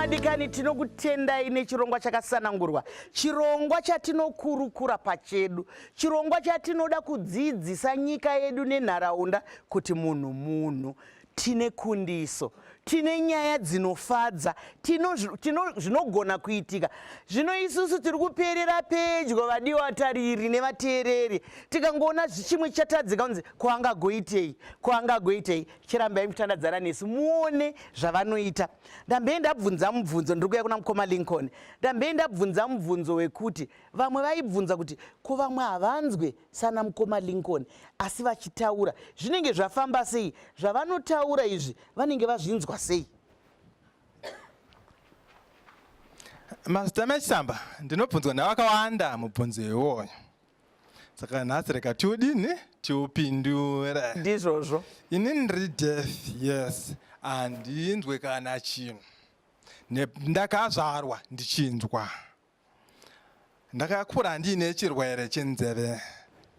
vadikani tinokutendai nechirongwa chakasanangurwa chirongwa chatinokurukura pachedu chirongwa chatinoda kudzidzisa nyika yedu nenharaunda kuti munhu munhu Tine kundiso, tine nyaya dzinofadza, tino, tino zvinogona kuitika. Zvino isusu tiri kuperera pedyo, vadiwa vatariri nevateereri, tikangoona zvichimwe chatadzika kunzi kwaangagoitei, kwaangagoitei, chirambai mukutandadzana nesu muone zvavanoita. Ndambei ndabvunza mubvunzo, ndiri kuya kuna mukoma Lincoln, ndambei ndabvunza mubvunzo wekuti vamwe vaibvunza kuti ko vamwe havanzwe sana mukoma lincoln asi vachitaura zvinenge zvafamba sei zvavanotaura izvi vanenge vazvinzwa sei mazita mechisamba ndinobvunzwa navakawanda mubvunzo iwoyo saka nhasi reka tiudini tiupindure ndizvozvo ini ndiri death yes handinzwe kana chinhu ndakazvarwa ndichinzwa Ndakakura ndiine chirwere chenzeve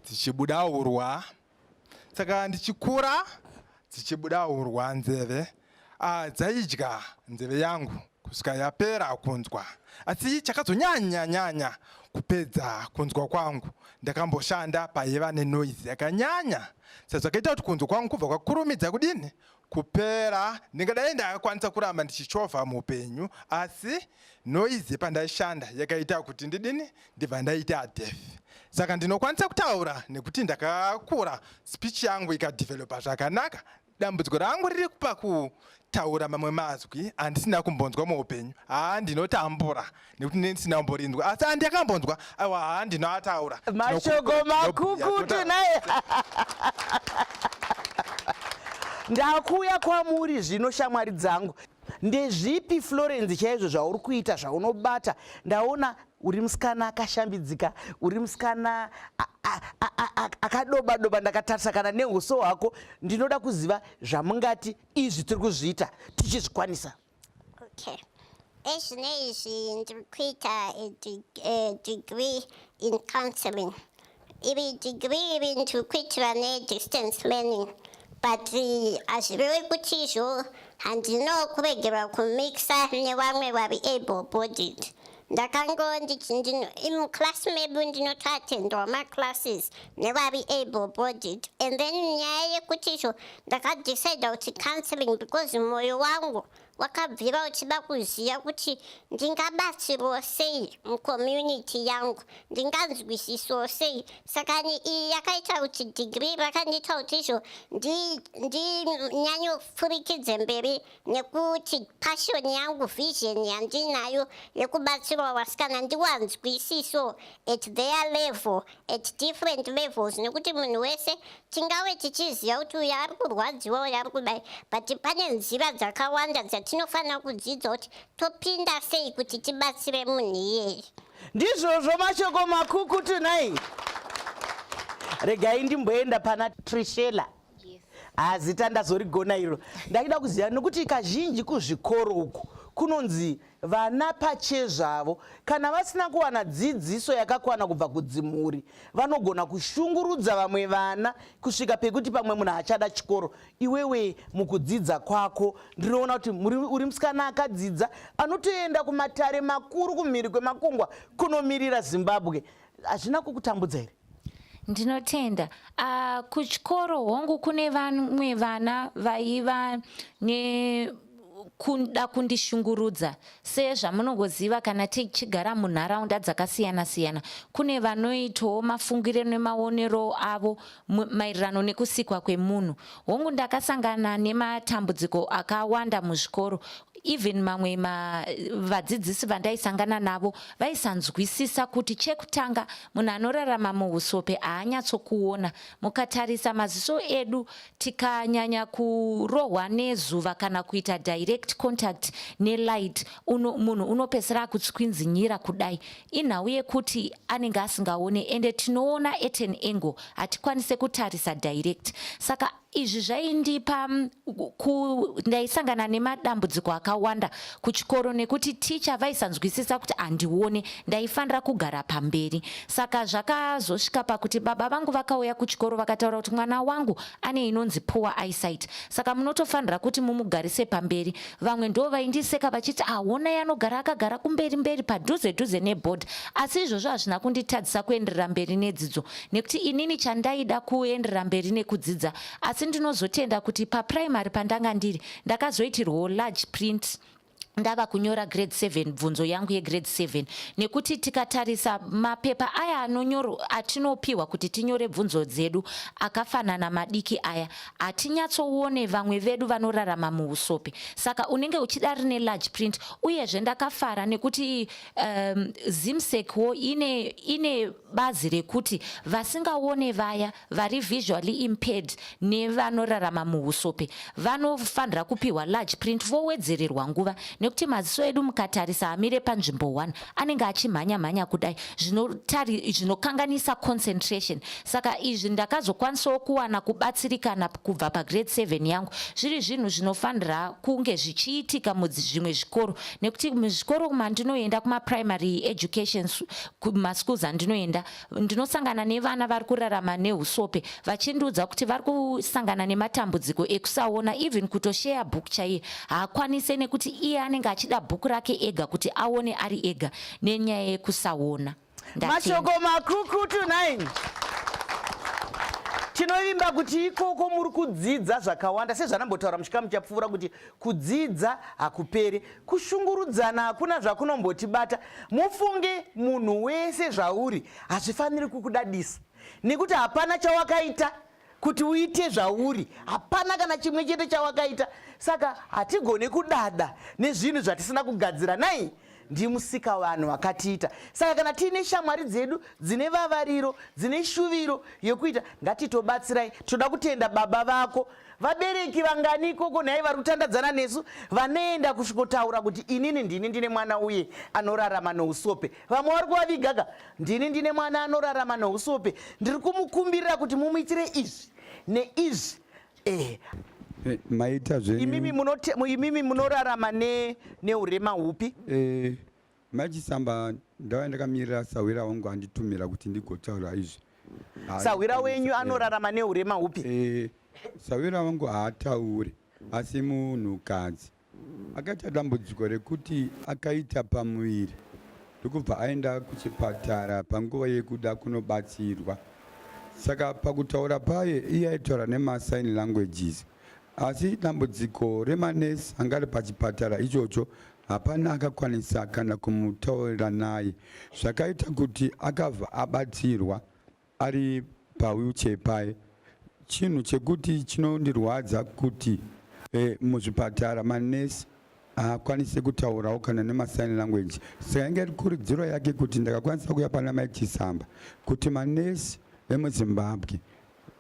dzichibuda urwa, saka ndichikura dzichibuda urwa nzeve ah, dzaidya nzeve yangu kusvika yapera kunzwa. Asi chakazonyanya nyanya kupedza kunzwa kwangu, ndakamboshanda paiva nenoizi yakanyanya sezvakaita kuti kunzwa kwangu kubva kwakurumidza kudini kupera ndingadai ndakakwanisa kuramba ndichichovha muupenyu asi noizi pandaishanda yakaita kuti ndidini ndibva ndaita adef saka ndinokwanisa kutaura nekuti ndakakura speech yangu ikadevelopa zvakanaka dambudziko rangu riri kupa kutaura mamwe mazwi andisina kumbonzwa muupenyu haa ndinotambura nekuti ndisina kumborinzwa asi andi akambonzwa aiwa haa ndinoataura mashoko makukutu naye ndakuuya kwamuri zvino shamwari dzangu ndezvipi florence chaizvo zvauri kuita zvaunobata ndaona uri musikana akashambidzika uri musikana akadoba doba ndakatarisa kana neuso hwako ndinoda kuziva zvamungati izvi tiri kuzviita tichizvikwanisa Okay. Ezvino izvi ndiri kuita degree in counseling. Iri degree iri ndiri kuitira nedistance learning but hazvirevi kuti izvo handino kuregerwa kumixa nevamwe vari able bodied. ndakango ndichi ndino imuclass mebu ndinotoatendwa maclasses nevari able bodied and then nyaya yekuti izvo ndakadecida kuti counseling because mwoyo wangu wakabvira uchida kuziva kuti ndingabatsirwo sei mucommunity yangu ndinganzwisiswo sei saka iyi yakaita kuti degree rakandiita kuti izvo ndinyanyofurikidze mberi nekuti pashoni yangu vision yandinayo yekubatsirwa vasikana ndiwanzwisiso at their level at different levels nekuti munhu wese tingave tichiziva kuti uyo ari kurwadziwa uyo ari kudai but pane nzira dzakawanda dzatinofanira kudzidza kuti topinda sei kuti tibatsire munhu iyeye ndizvozvo mashoko makukutu nai regai ndimboenda pana trishela hazita ah, ndazorigona iro ndaida kuziva nokuti kazhinji kuzvikoro uku kunonzi vana pachezvavo kana vasina kuwana dzidziso yakakwana kubva kudzimhuri vanogona kushungurudza vamwe vana kusvika pekuti pamwe munhu achada chikoro iwewe mukudzidza kwako ndinoona kuti uri musikana akadzidza anotoenda kumatare makuru kumhiri kwemakungwa kunomirira zimbabwe hazvina kukutambudza here Ndinotenda. Uh, kuchikoro hongu kune vamwe vana vaiva ne kuda kundishungurudza sezvamunongoziva kana tichigara munharaunda dzakasiyana siyana kune vanoitawo mafungiro nemaonero avo maererano nekusikwa kwemunhu hongu ndakasangana nematambudziko akawanda muzvikoro even mamwe ma vadzidzisi vandaisangana navo vaisanzwisisa kuti chekutanga munhu anorarama muusope haanyatsokuona mukatarisa maziso edu tikanyanya kurohwa nezuva kana kuita direct contact nelight uno, munhu unopesera akutswinzinyira kudai inhau yekuti anenge asingaone ende tinoona eten angle hatikwanise kutarisa direct saka izvi zvaindipa ndaisangana nemadambudziko akawanda kuchikoro nekuti ticha vaisanzwisisa kuti handione ndaifanira kugara pamberi saka zvakazosvika pakuti baba vangu vakauya kuchikoro vakataura kuti mwana wangu ane inonzi poor eyesight saka munotofanira kuti mumugarise pamberi vamwe ndo vaindiseka vachiti ahona yanogara akagara kumberi mberi padhuze dhuze neboard asi izvozvo hazvina kunditadzisa kuenderera mberi nedzidzo nekuti inini chandaida kuenderera mberi nekudzidza asi ndinozotenda kuti paprimary pandanga ndiri ndakazoitirwawo large print ndava kunyora grade 7 bvunzo yangu yegrade 7 nekuti tikatarisa mapepa aya anonyoro atinopiwa kuti tinyore bvunzo dzedu akafanana madiki aya hatinyatsoone vamwe vedu vanorarama muusopi saka unenge uchida rine large print uyezve ndakafara nekuti um, zimsec wo ine, ine bazi rekuti vasingaone vaya vari visually impaired nevanorarama muhusope vanofanira kupiwa large print vowedzererwa nguva nekuti maziso edu mukatarisa amire panzvimbo 1 anenge achimhanya mhanya kudai zvinokanganisa concentration saka izvi ndakazokwanisawo kuwana kubatsirikana kubva pagrade 7 yangu zviri zvinhu zvinofanira kunge zvichiitika muzvimwe zvikoro nekuti muzvikoro mandinoenda kumaprimary education kumaschools andinoenda ndinosangana nevana vari kurarama neusope vachindiudza kuti vari kusangana nematambudziko ekusaona even kutosheya book chaiye haakwanise nekuti iye anenge achida bhuku rake ega kuti aone ari ega nenyaya yekusaona mashoko makukutu 9 tinovimba kuti ikoko muri kudzidza zvakawanda sezvanambotaura muchikamu chapfuura kuti Kudzidza hakuperi, kushungurudzana hakuna zvakunombotibata. Mufunge munhu wese zvauri hazvifaniri kukudadisa nekuti hapana chawakaita kuti uite zvauri hapana kana chimwe chete chawakaita saka hatigone kudada nezvinhu zvatisina kugadzira nai ndimusika vanhu vakatiita saka kana tiine shamwari dzedu dzine vavariro dzine shuviro yekuita ngatitobatsirai toda kutenda baba vako vabereki vangani ikoko nhai vari kutandadzana nesu vanoenda kusvikotaura kuti inini ndini ndine mwana uye anorarama nousope vamwe vari kuvavigaka ndini ndine mwana anorarama nousope ndiri kumukumbirira kuti mumuitire izvi neizvi ehe eh, maita zveimimi munorarama neurema hupi eh, Mai Chisamba ndava ndakamirira sahwira wangu anditumira kuti ndigotaura izvi. Sahwira wenyu anorarama neurema hupi? Eh, sahwira wangu haatauri asi munhukadzi akaita dambudziko rekuti akaita pamuviri ndokubva aenda kuchipatara panguva yekuda kunobatsirwa saka pakutaura paye iye aitaura nemasign languages asi dambudziko remanesi anga ari pachipatara ichocho hapana akakwanisa kana kumutaurira naye zvakaita kuti akabva abatsirwa ari pawheelchair paye chinhu chekuti chinondirwadza kuti eh, muzvipatara manesi haakwanise kutaurawo kana nemasign language saka inge rikurudziro yake kuti ndakakwanisa kuya pana mai chisamba kuti manesi emuzimbabwe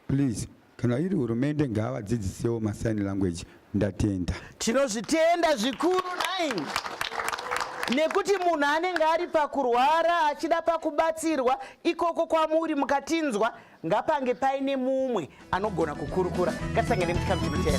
Please kana iri hurumende ngaavadzidzisewo masign language ndatenda tinozvitenda zvikuru nine nekuti munhu anenge ari pakurwara achida pakubatsirwa ikoko kwamuri mukatinzwa ngapange paine mumwe anogona kukurukura ngatisangane muchikamu chinotera